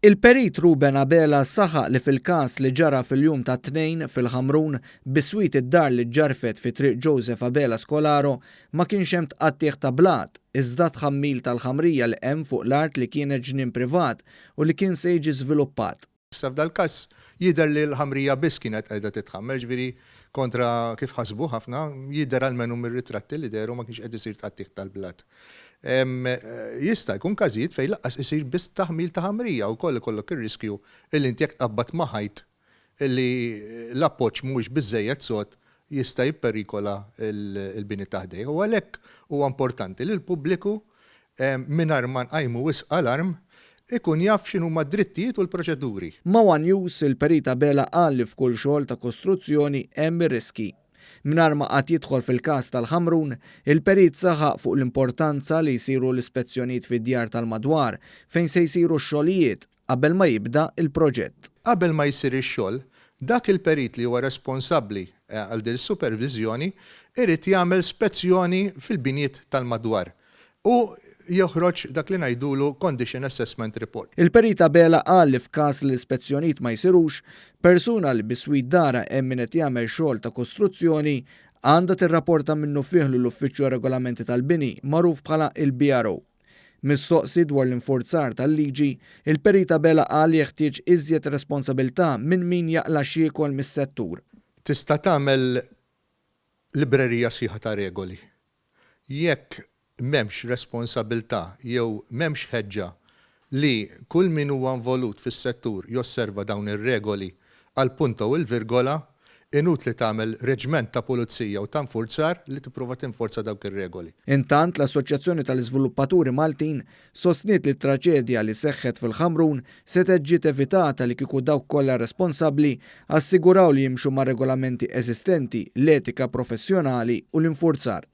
Il-Perit Ruben Abela saħaq li fil-każ li ġara fil-jum tat-Tnejn fil-Ħamrun, biswit id-dar li ġġarfet fi Triq Joseph Abela Scolaro, ma kienx hemm tqattigħ ta' blat, iżda tħammil tal-ħamrija li hemm fuq l-art li kienet ġnien privat u li kien se jiġi żviluppat. Issa f'dal-każ jidher li l-ħamrija biss kienet qiegħda titħammer, jiġifieri kontra kif ħasbu ħafna, jidher almenu mir-ritratti li dehru ma kienx qed isir tqattigħ tal-blat. Jista' jkun każijiet fejn lanqas isir biss taħmil ta' ħamrija u wkoll ikollok ir-riskju illi inti jekk tqabbad ma' ħajt illi l-appoġġ mhuwiex biżżejjed sod jista' jipperikola l-bini ta' ħdejh u għalhekk huwa importanti li l-pubbliku mingħajr ma nqajmu wisq alarm, ikun jaf x'inhuma d-drittijiet u l-proċeduri. Ma' one News, il-Perit Abela qal li f'kull xogħol ta' kostruzzjoni hemm ir-riskji. Mingħajr ma qagħad jidħol fil-każ tal-Ħamrun, il-Perit saħaq fuq l-importanza li jsiru l-ispezzjonijiet fid-djar tal-madwar fejn se jsiru x-xogħlijiet, qabel ma jibda l-proġett. Qabel ma jsir ix-xogħol, dak il-perit li huwa responsabbli għal din is-superviżjoni jrid jagħmel spezzjoni fil-binjiet tal-madwar u joħroġ dak li ngħidulu condition assessment report. Il-Perit Abela qal li f'każ li l-ispezzjonijiet ma jsirux, persuna li biswit darha hemm min qed jagħmel xogħol ta' kostruzzjoni għandha tirrapporta minnufih lill-Uffiċċju għar-Regolamenti tal-Bini, magħruf bħala il-BRO. Mistoqsi dwar l-infurzar tal-liġi, il-Perit Abela qal jeħtieġ iżjed responsabilità minn min jaqla' x'jiekol mis-settur. Tista' tagħmel librerija sħiħa ta' regoli. Jekk m'hemmx responsabilità jew m'hemmx ħeġġa li kull min huwa involut fis-settur josserva dawn ir-regoli għall-punta u l-virgola, Inutli tagħmel reġment ta' pulizija u ta' infurzar li tipprova tinforza dawk ir-regoli. Intant, l-Assoċjazzjoni tal-Iżviluppaturi Maltin sostniet li t-traġedja li seħħet fil-Ħamrun setgħet ġiet evitata li kieku dawk kollha responsabbli assiguraw li jimxu mar-regolamenti eżistenti, l-etika professjonali u l-infurzar.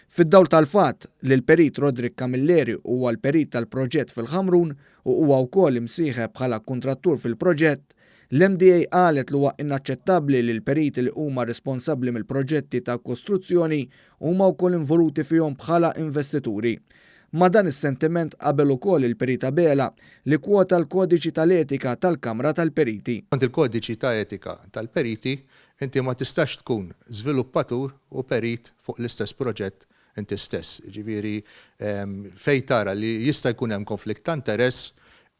Fid-dawl tal-fatt li l-Perit Roderick Camilleri huwa l-Perit tal-proġett fil-Ħamrun u huwa wkoll imsieħeb bħala kuntrattur fil-proġett, L-MDA qalet li huwa inaċċettabbli li l-periti li huma responsabbli mill-proġetti ta' kostruzzjoni huma wkoll involuti fihom bħala investituri. Ma' dan is-sentiment qabel ukoll il-Perit Abela li kkwota l-Kodiċi tal-Etika tal-Kamra tal-Periti. Skont il-Kodiċi ta' Etika tal-Periti, inti ma tistax tkun żviluppatur u perit fuq l-istess proġett inti stess. Jiġifieri fejn tara li jista' jkun hemm konflitt ta' interess,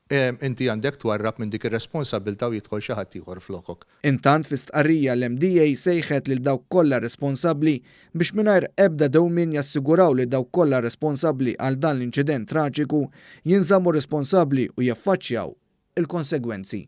Inti għandek twarrab minn dik ir-responsabbiltà u jidħol xi ħadd ieħor flokok. Intant fi stqarrija l-MDA sejħet lil dawk kollha responsabbli biex mingħajr ebda dewmien jassiguraw li dawk kollha responsabbli għal dan l-inċident traġiku jinżammu responsabbli u jaffaċċjaw il-konsegwenzi.